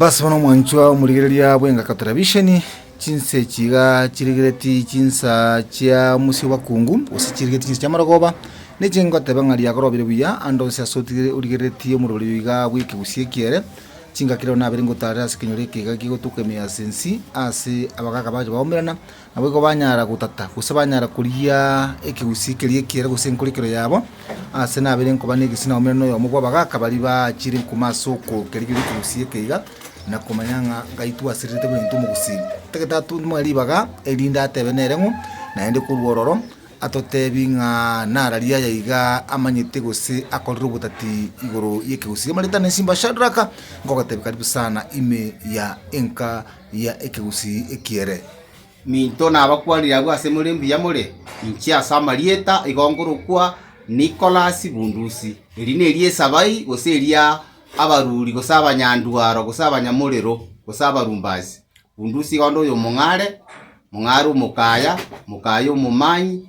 Basibwa nomwanchwa omorigereria bw'engaka televisheni, chinse echi iga chirigereti chinsa chia mosio bakungu, gose chirigereti chinsa chi'amarogoba, ninche ngoteba ng'a riakorobire buya ande onsi ase otigire- origerereti omorweri oyo iga agwo ekegusii eki ere, chingaki rero nabere ngotarire ase ekenyoro ekeiga kigotuka ime ase ensi, ase abagaaka baye bagomerana, Naboigo banyara gotata, gose banyara korigia ekegusii keria ekiere gose enkorikero yabo, aase nabere nkoba negesii na omera noyomo bw'abagaaka baria baachire enkuma ase okorukereria egegusii eke iga, na komanya ng'a gaitwe asererete buna intwe omogusii. Tagete atunwe ribaga erinde atebe nere ng'o, naende korwa ororo atoteebie ng'a nara riaya iga amanyete gose akorire obotati igoro y'ekegusii. Emerita na esimba Shadraka, nkogoteebia karibu sana ime ya enka. Ria ekegusii ekiere. Minto nabakwanire abwo ase more mbuya more, inche ase amarieta igo ngorokwa Nikolasi Bundusi. Eri nerio esabai, gose eria abaruri, gose abanyandwaro, gose abanyamorero, gose abarumbasi. Bundusi igo nde oyomong'are, mong'are omokaya, mokaya omomanyi,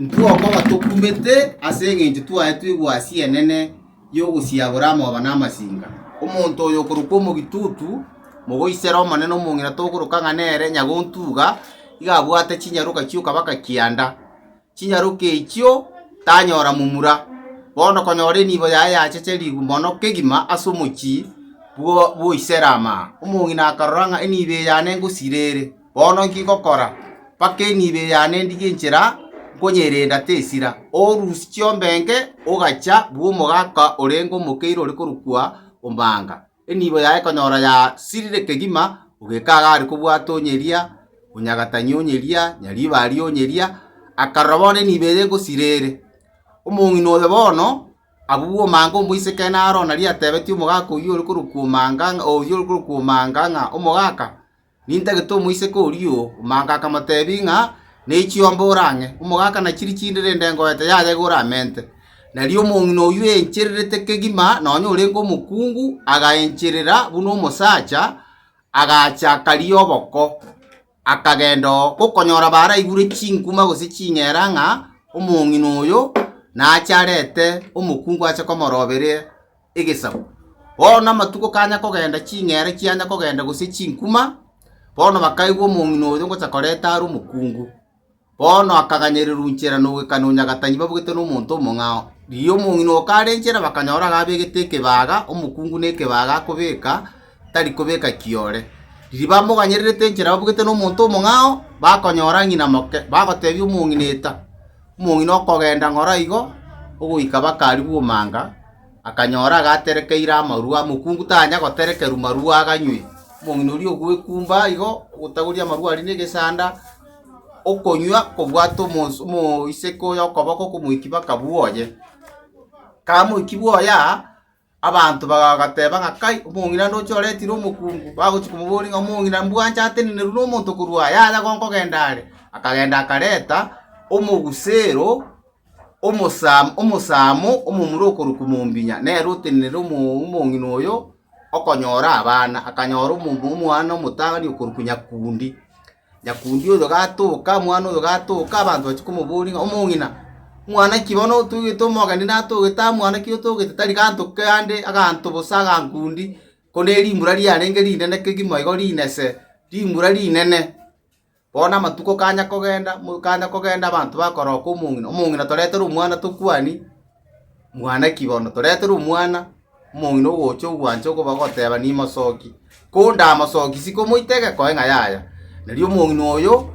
Ntwokoba tokumete ase engencho twaetwe egwasi enene y'ogosiabora amoba na amasinga. Omonto oyo okorokwa omogitutu, mogoisere omonene omong'ina togokoroka ng'a nere nyagontuga, iga abwate chinyaroka chi'okabaka kianda. Chinyaroka echio tanyora momura. Bono konyora enibo yaye yacheche ribu mono kegima ase omochie bw'Oiserama. Omong'ina akarora ng'a enibo eye yane ngosira ere. Bono inki ngokora? Mpaka enibe yane ndigie inchera, nkonyerenda tesira. Orusi chiombenke, ogacha bw'omogaka orenge omokeire ore korokwa ombaanga. Enibo yaye konyora yasirire kegima, ogeka agare kobwata onyeria, onyagatani onyeria, nyaribari onyeria, akarora bono enibo eye ngosira ere. Omong'ina oyo bono abwo bw'omanga omoiseke naro nari atebetie omogaka oyio ore korokwa omanga oyio ore korokwa omanga ng'a, Omogaka, Nintagete omoiseke oria o momaka akamotebia ng'a, Ne chiomba ore ang'e, omogaka nachiri chinde rende engoeta yaye igoro amente. Nari omong'ina oyio oenchererete kegima nonya orenge omokungu, agaencherera buna omosacha, agacha akaria oboko, akagenda oo gokonyora baraibure chinkuma gose ching'era ng'a omong'ina oyo nache arete omokungu ache komoroberia. egesaku. Bono amatuko kanya kogenda, ching'eere chianya kogenda, gose chinkuma, bono bakaigwa omong'ina oyo ngocha koreta are omokungu. Bono akaganyereru nchera nogwekana onyagatani babugete nomonto omong'ao. Riria omong'ina oo kare nchera bakanyora iga abegete ekebaga, omokungu ne ekebaga akobeka, tari kobeka kiore. Riria bamoganyererete nchera babugete nomonto omong'ao, bakonyora ng'ina moke, bagotebia omong'ina, Eta! omong'ina okogenda ng'oro igo ogoika bakari bw'omanga, akanyora agaterekeire amarwa, mokungu tanya goterekerwa marwa aganywe. Omong'ina oria ogwekumba igo, ogotagoria amarwa aria negesanda, okonywa kobwate omosu- omoiseke oye okoboko okomoiki baka bwoye. Kamoiki bwoye aa. Abanto bagateeba ng'a, Kai, omong'ina onde oche oretire omokungu, bagochia komoboria ng'a, Omong'ina, mbwancha atenenerwe nomonto korwa aa yaya gonkogenda are? Akagenda akareta omogusero omosam omosamo omomura okorokwa mombinya, nere otenenere omo omong'ina oyo okonyora abana. Akanyora omo omwana omotang'ani okorokwa Nyakundi. Nyakundi oyo gatoka, omwana oyo gatoka, abanto bachia komoboria ng'a, Omong'ina, mwana ki bono otogete? Omogeni natogete aa, mwana ki otogete? Tari ganto kande aganto bosa agankundi, korende erimbura riarenge rinene kegima igo rinese, rimbura rinene. Bono amatuko kanya kogenda, kanya kogenda abanto bakoroka omong'ina, omong'ina toretere omwana tokwanie, mwana ki bono? Toretere omwana. omong'ina ogocha ogwancha okobagoteba nimosoki, kondamosoki sikomoita egeko ng'a yaya. Erio omong'ina oyo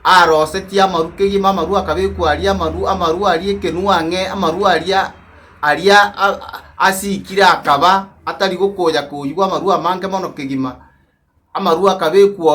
arosetie amaru kegima amaru akabekwa aria amaru amaru aria ekenua ang'e amaru aria aria a- a- asikire akaba atari gokonya koyigwa amarwa amange mono kegima, amarwa akabekwao.